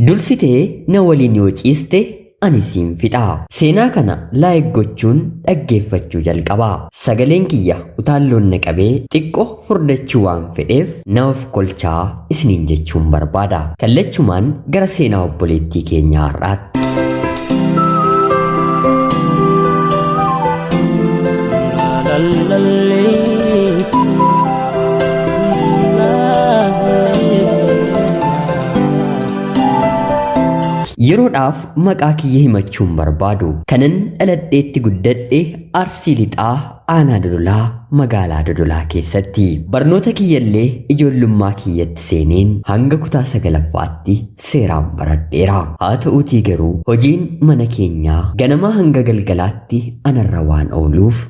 Dursitee na waliin yoo ciiste ani siin fixa. Seenaa kana laayik gochuun dhaggeeffachuu jalqabaa. Sagaleen kiyya utaalloon na qabee xiqqo furdachuu waan fedheef na of kolchaa isiniin jechuun barbaada. Kallachumaan gara seenaa obboleettii keenyaa har'aatti. Yeroodhaaf maqaa kiyya himachuun barbaadu. Kanan dhaladheetti guddadhe Arsii Lixaa Aanaa Dodolaa magaalaa Dodolaa keessatti. Barnoota kiyyallee ijoollummaa kiyyatti seeneen hanga kutaa sagalaffaatti seeraan baradheera. Haa ta'uutii garuu hojiin mana keenyaa ganamaa hanga galgalaatti anarra waan ooluuf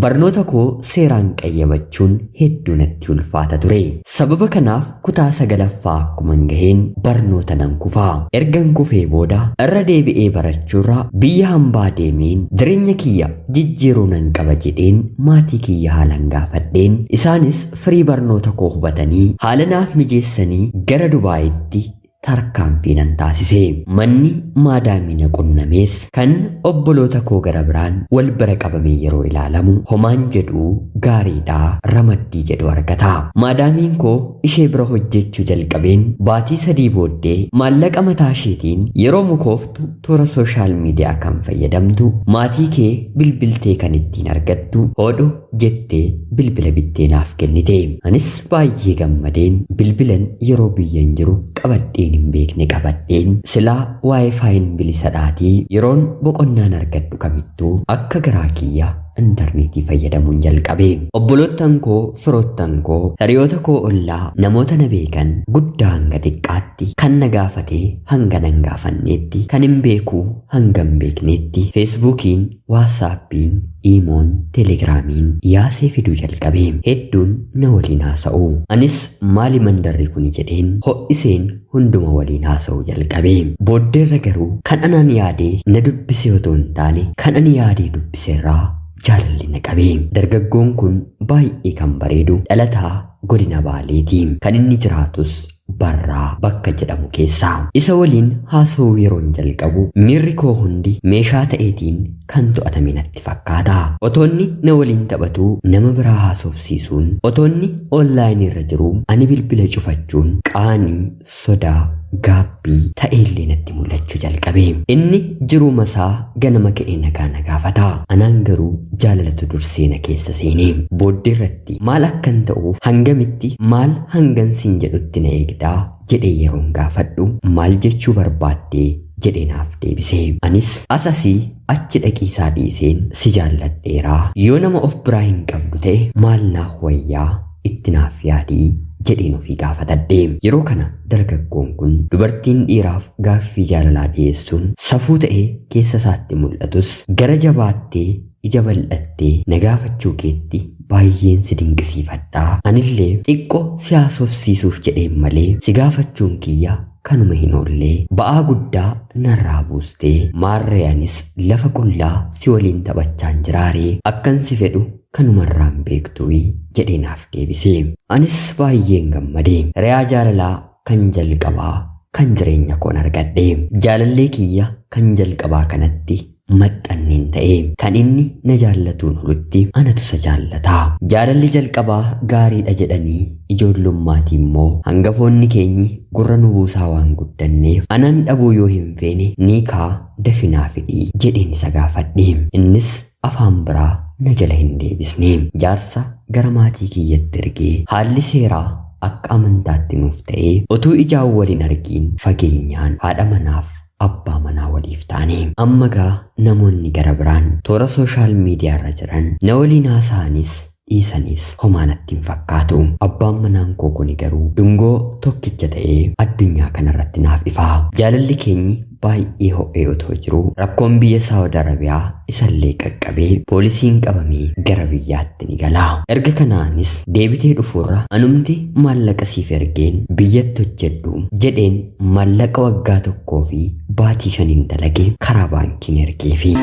Barnoota koo seeraan qayyabachun heddu natti ulfaata ture. Sababa kanaaf kutaa sagalaffaa akkuman gaheen barnoota nan kufa. Ergan kufee booda irra deebi'ee barachuurra biyya hambaa deemeen jireenya kiyya jijjiiruu nan qaba jedheen maatii kiyya haalan gaafadheen isaanis firii barnoota koo hubatanii haala naaf mijeessanii gara Dubaayitti tarkaanfii nan taasise. Manni maadaamii na qunnamees kan obboloota koo gara biraan wal bira qabamee yeroo ilaalamu homaan jedhu gaariidha ramaddii jedhu argata. Maadaamiin koo ishee bira hojjechuu jalqabeen baatii sadii booddee maallaqa mataa isheetiin yeroo mukooftu toora sooshaal miidiyaa kan fayyadamtu maatii kee bilbiltee kan ittiin argattu hodhu jettee bilbila bittee naaf kennite. Anis baay'ee gammadeen bilbilan yeroo biyyan jiru qabadheen hin beekne qabadheen silaa waayifaayin bilisadhaatii yeroon boqonnaan argadhu kamittuu akka garaa kiyya intarneetii fayyadamuun jalqabe. Obboloottan koo, firoottan koo, hiriyoota koo ollaa, namoota na beekan guddaa hanga xiqqaatti kan na gaafate hanga nan gaafanneetti, kan hin beeku hanga hin beekneetti feesbuukiin Waatsaappiin, Iimoon, Telegiraamiin yaasee fiduu jalqabe. Hedduun na waliin haasa'u. Anis maali mandarri kuni jedheen ho'iseen hunduma waliin haasa'uu jalqabe. Booddeerra garuu kan anaan yaadee na dubbisee otoo hin taane kan ani yaadee dubbiserraa jaalalli na qabe. Dargaggoon kun baay'ee kan bareedu dhalataa godina Baaleeti. Kan inni jiraatus Barraa bakka jedhamu keessa. Isa waliin haasa'uu yeroon jalqabu miirri koo hundi meeshaa ta'eetiin kan to'atame natti fakkaata. Otoonni na waliin taphatuu nama biraa haasofsiisuun, otoonni online irra jiruu ani bilbila cufachuun qaanii, sodaa, gaabbii ta'eellee natti mul'achuu jalqabe. Inni jiruuma isaa ganama ka'ee nagaa na gaafata. Anaan garuu jaalalatu dursee na keessa seene. Booddeerratti. irratti maal akkan ta'uuf hangamitti maal hangan siin jedhutti na eegdaa jedhee yeroon gaafadhu maal jechuu barbaaddee jedhee naaf deebise anis as asii achi dhaqiisaa dhiiseen si jaalladheeraa yoo nama of biraa hin qabdu ta'e maal naaf wayyaa itti naaf yaadii jedheen ofii gaafatadhe yeroo kana dargaggoon kun dubartiin dhiiraaf gaaffii jaalalaa dhiyeessuun safuu ta'ee keessa isaatti mul'atus gara jabaattee ija bal'attee na gaafachuu keetti baay'een si dinqisiifadha. Anillee xiqqo si haasofsiisuuf jedheen malee si gaafachuun kiyya kanuma hin oolle. Ba'aa guddaa narraa buuste. Maarree anis lafa qullaa si waliin taphachaan jiraaree akkan si fedhu kanumarraan beektuuyi jedhee naaf deebise. Anis baay'een gammade. Reyaa jaalalaa kan jalqabaa kan jireenya koon argadhe. Jaalallee kiyya kan jalqabaa kanatti maxxanneen ta'e. Kan inni na jaallatuun olutti anatu isa jaallata. Jaalalli jalqabaa gaariidha jedhanii ijoollummaatii immoo hangafoonni keenyi gurra nu buusaa waan guddanneef anan dhabuu yoo hin feene niikaa dafinaa fidhi jedheen isa gaafadhe. Innis afaan biraa na jala hin deebisne. Jaarsa gara maatii kiyyatti ergee haalli seeraa akka amantaatti nuuf ta'ee otuu ijaan wal hin argiin fageenyaan haadha manaaf abbaa manaa waliif taane. Amma gaa namoonni gara biraan toora sooshaal miidiyaarra jiran na waliin haasa'anis dhiisanis homaa natti hin fakkaatu. Abbaan manaan koo kuni garuu dungoo tokkicha ta'ee addunyaa kanarratti naaf ifa. Jaalalli keenyi baay'ee ho'ee otoo jiruu rakkoon biyya Saawud Arabiyaa isallee qaqqabee poolisiin qabamee gara biyyaatti ni gala. Erga kanaanis deebitee dhufuurra anumti maallaqa siif ergeen biyyatti hojjedhu jedheen maallaqa waggaa tokkoo fi baatii shaniin dalage karaa baankiin ergee fi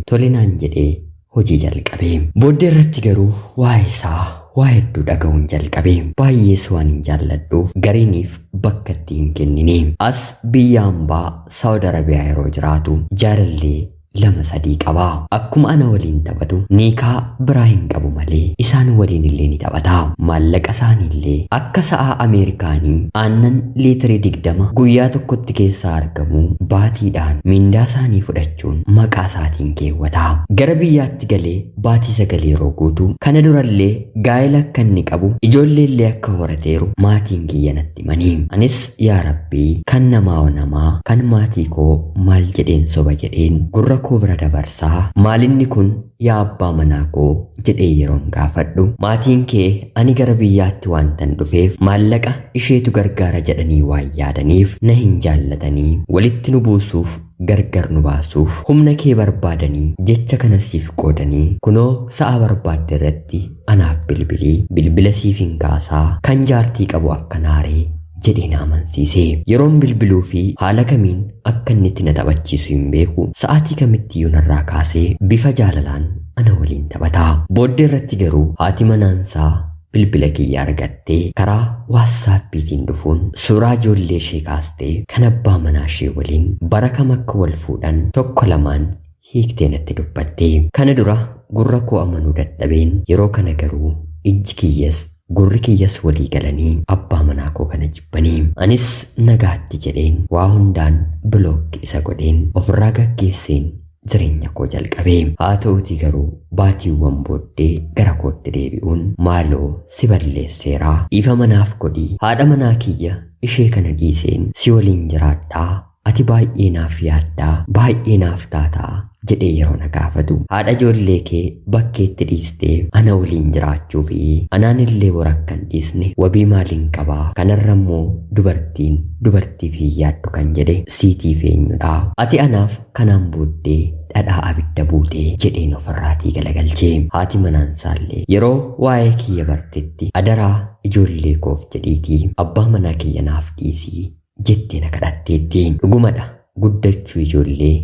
tole naan jedhee hojii jalqabe. Booddee irratti garuu waa'ee isaa waa hedduu dhaga'uun jalqabe. Baay'ees waan hin jaalladhuuf gariiniif bakka itti hin kennine. As biyya ambaa Saawud Arabiyaa yeroo jiraatu jaalallee lama sadii qaba. Akkuma ana waliin taphatu niikaa biraa hin qabu malee isaan waliin illee ni taphata. Maallaqa isaanii illee akka sa'aa Ameerikaanii aannan liitirii digdama guyyaa tokkotti keessaa argamu baatiidhaan mindaa isaanii fudhachuu jechuun maqaa isaatiin keewwata. Gara biyyaatti galee baatii sagal yeroo guutu, kana durallee gaa'ela akka inni qabu, ijoolleellee akka horateeru maatiin kiyya natti himani. Anis yaa Rabbii kan namaahoo namaa, kan maatii koo maal jedheen soba jedheen gurra koo bira dabarsa, maalinni kun yaa abbaa manaa koo jedhee yeroon gaafadhu, maatiin kee ani gara biyyaatti waantan dhufeef maallaqa isheetu gargaara jedhanii waan yaadaniif na hin jaallatanii walitti nu buusuuf gargar nu baasuuf humna kee barbaadanii jecha kana siif qoodanii kunoo sa'a barbaadde irratti anaaf bilbili bilbila siifin kaasaa kan jaartii qabu akka naaree jedhee na amansiise yeroon bilbiluu fi haala kamiin akka inni itti na taphachiisu hin beeku sa'aatii kamittiyyuu narraa kaasee bifa jaalalaan ana waliin taphata booddee irratti garuu haati manaansaa bilbila kiyya argattee karaa waatsaappiitiin dhufuun suuraa ijoollee ishee kaastee kan abbaa manaa ishee waliin bara kam akka wal fuudhan tokko lamaan hiiktee natti dubbatte. Kana dura gurra koo amanuu dadhabeen yeroo kana garuu ijji kiyyas gurri kiyyas walii galanii abbaa manaa koo kana jibbanii. Anis nagaatti jedheen waa hundaan bilookki isa godheen ofirraa gaggeesseen jireenya koo jalqabe. Haa ta'uutii garuu baatiiwwan booddee gara kootti deebi'uun maaloo si balleesseera dhiifama naaf godhi haadha manaa kiyya ishee kana dhiiseen si waliin jiraadha ati baay'ee naaf yaadda baay'ee naaf taata jedhee yeroo na gaafatu haadha ijoollee kee bakkeetti dhiistee ana waliin jiraachuu fi anaan illee bor akka hin dhiisne wabii maaliin qabaa kanarra immoo dubartiin dubartiif hin yaaddu kan jedhe siitiif eenyudha ati anaaf Kanaan booddee dhadhaa abidda buute jedheen ofirraatii galagalche. Haati manaansaallee yeroo waa'ee kiyya bartetti adaraa ijoollee koof jedhiitii abbaa manaa kiyya naaf dhiisi jettee na kadhatteetti. Dhugumadha guddachuu ijoollee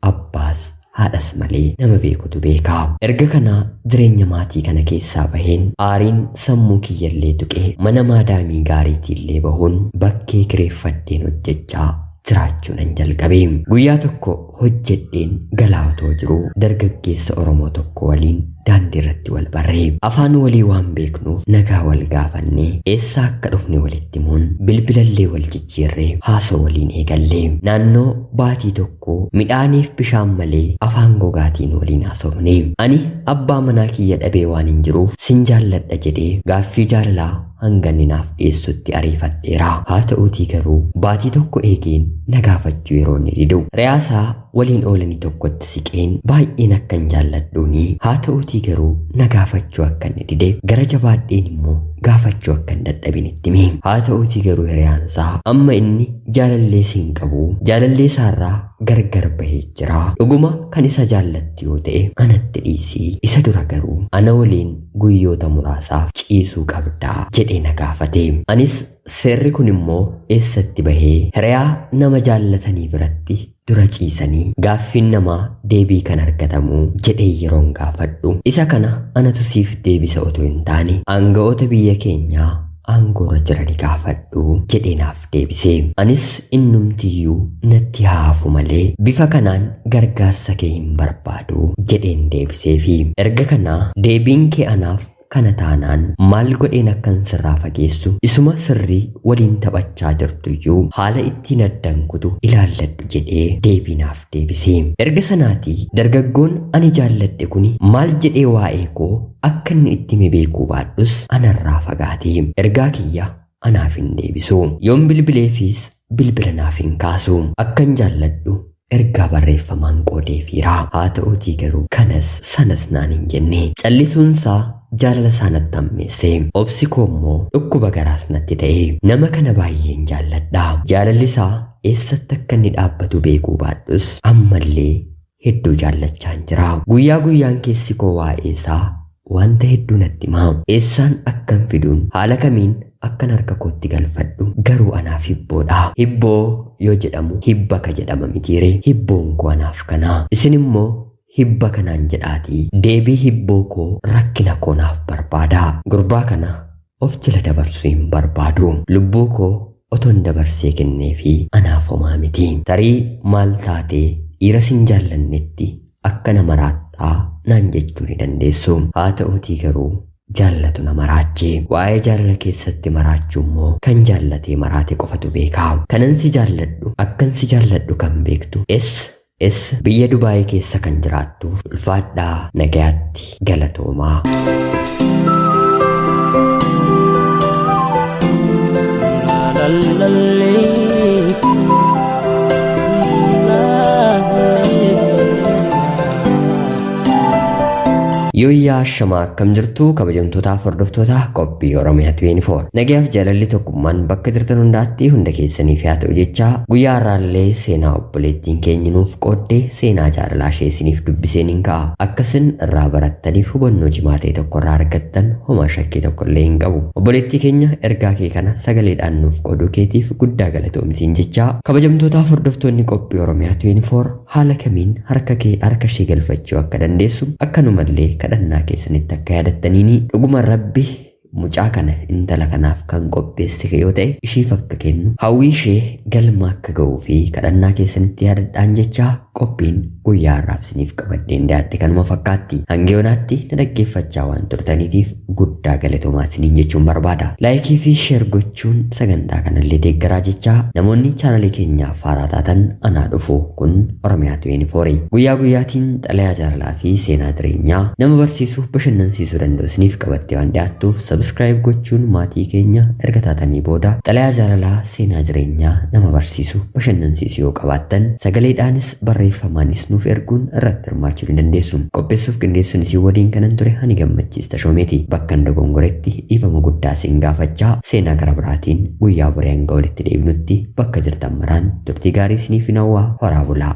abbaas haadhas malee nama beekutu beeka. Erga kana jireenya maatii kana keessaa baheen aariin sammuu kiyyallee tuqee mana maadaamii gaariitiillee bahuun bakkee kireeffadheen hojjechaa jiraachuunan jalqabe. Guyyaa tokko hojjedheen galaa otoo jiruu dargaggeessa Oromoo tokko waliin daandiirratti wal barre. Afaan walii waan beeknuuf nagaa wal gaafannee eessaa akka dhufne walitti himuun bilbilallee wal jijjiirree haasoo waliin eegalle. Naannoo baatii tokkoo midhaaniif bishaan malee afaan gogaatiin waliin haasofne. Ani abbaa manaa kiyya dhabee waanin jiruuf sin jaalladha jedhee gaaffii jaalalaa hanga inni naaf dhiyeessutti ariifadheera. Haa ta'uutii garuu baatii tokko eegeen na gaafachuu yeroo inni didu re'aasaa waliin oolanii tokkotti siqeen baay'een akkan jaalladhuuni. Haa ta'uutii garuu na gaafachuu akka inni dide gara jabaadheen immoo gaafachuu akka hin dadhabin itti hime. Haa ta'uutii garuu hiriyaansaa amma inni jaalallee si hin qabu jaalallee isaarraa gargar bahee jira. Dhuguma kan isa jaallattu yoo ta'e anatti dhiisii isa dura garuu ana waliin guyyoota muraasaaf ciisuu qabdaa? jedhee na gaafate. Anis seerri kun immoo eessatti bahee? Hiriyaa nama jaallatanii biratti dura ciisanii gaaffiin namaa deebii kan argatamuu? jedhee yeroon gaafadhu. Isa kana anatu siif deebisa otoo hin taane aanga'oota biyya keenyaa aangoorra jirani gaafadhu jedhee naaf deebise. Anis innumti iyyuu natti haa hafu malee bifa kanaan gargaarsa kee hin barbaadu jedheen deebiseefi. Erga kanaa deebiin kee anaaf kana taanaan maal godheen akkan sirraa fageessu isuma sirrii waliin taphachaa jirtu iyyuu haala ittiin addan kutu ilaalladhu jedhee deebii naaf deebise. Erga sanaatii dargaggoon ani jaalladhe kuni maal jedhee waa'ee koo akka inni itti hime beekuu baadhus anarraa fagaate. Ergaa kiyya anaaf hin deebisu. Yoon bilbileefis bilbila naaf hin kaasu. Akkan jaalladhu ergaa barreeffamaan qoodeefiira. Haa ta'uutii garuu kanas sanas naan hin jenne. Callisuunsaa jaalalasaa natti hammeesse. Obsi koo immoo dhukkuba garaas natti ta'e. Nama kana baay'een jaalladha. Jaalallisaa eessatti akka inni dhaabbatu beekuu baadhus ammallee hedduu jaallachaan jira. Guyyaa guyyaan keessi koo waa'ee isaa wanta hedduu natti hima. Eessaan akkan fiduun, haala kamiin akkan harka kootti galfadhu garuu anaaf hibboodha. Hibboo yoo jedhamu hibba ka jedhama mitiiree? Hibboon koo anaaf kana. Isin immoo hibba kanaan jedhaatii deebii hibboo koo rakkina koo naaf barbaadaa. Gurbaa kana Of jala dabarsuu hin barbaadu. Lubbuu koo otoon dabarsee kenneefii anaaf homaa miti. Tarii maal taatee dhiira sin jaallannetti akka na maraattaa naan jechuu ni dandeessu. Haa ta'uutii garuu jaallatu na maraache. Waa'ee jaalala keessatti maraachuu immoo kan jaallatee maraate qofatu beeka. Kanan si jaalladhu akkan si jaalladhu kan beektu S S biyya Dubaayii keessa kan jiraattu ulfaadhaa nagayaatti galatoomaa. Yooyyaa shamaa akkam jirtu kabajamtootaaf hordoftoota qophii Oromiyaa 24. Nagayaaf jaalalli tokkummaan bakka jirtan hundaatti hunda keessaniif haa ta'u jechaa guyyaa har'aallee seenaa Obboleettiin keenya nuuf qoodde seenaa jaalalaa ishee isiniif dubbiseen hin ka'a. Akka isin irraa barattaniif hubannoo cimaa ta'e tokko irraa argattan homaa shakkii tokko illee hin qabu. Obboleettii keenya ergaa kee kana sagaleedhaan nuuf qooduu keetiif guddaa galatoomi siin jechaa. Kabajamtootaaf hordoftoonni qophii Oromiyaa 24 haala kamiin harka kee harka ishee galfachuu akka dandeessu akkanumallee kadhannaa keessanitti akka yaadattaniini dhuguma Rabbi Mucaa kana intala kanaaf kan qopheessite yoo ta'e ishiif akka kennu hawwii ishee galma akka ga'uu fi kadhannaa keessanitti yaadadhaan jecha qophiin guyyaa har'aaf isiniif qabadheen dhiyaadhe kanuma fakkaatti. Hanga yoonaatti na dhaggeeffachaa waan turtaniitiif guddaa galatoomaa isiniin jechuun barbaada. Laayikii fi sheer gochuun jechuun sagantaa kanallee deeggaraa jechaa namoonni chaanalii keenyaaf haaraa taatan anaa dhufu kun Oromiyaa 24 guyyaa guyyaatiin xalayaa jaalalaa fi seenaa jireenyaa nama barsiisuuf bashannansiisuu danda'u isiniif qabattee waan dhiyaattuuf sabiskiraayib gochuun maatii keenya erga taatanii booda xalayaa jaalalaa seenaa jireenyaa nama barsiisu bashannansiisu yoo qabaattan sagaleedhaanis barreeffamaanis nuuf erguun irratti hirmaachuu ni dandeessu. Qopheessuuf qindeessuun isin waliin kanan ture ani Gammachiis Tashoomeeti. Bakkan dogongoretti dhiifama guddaa isin gaafachaa, seenaa gara biraatiin guyyaa boree hanga walitti deebinutti bakka jirtan maraan turtii gaarii isiniifin hawwa. Horaa bulaa!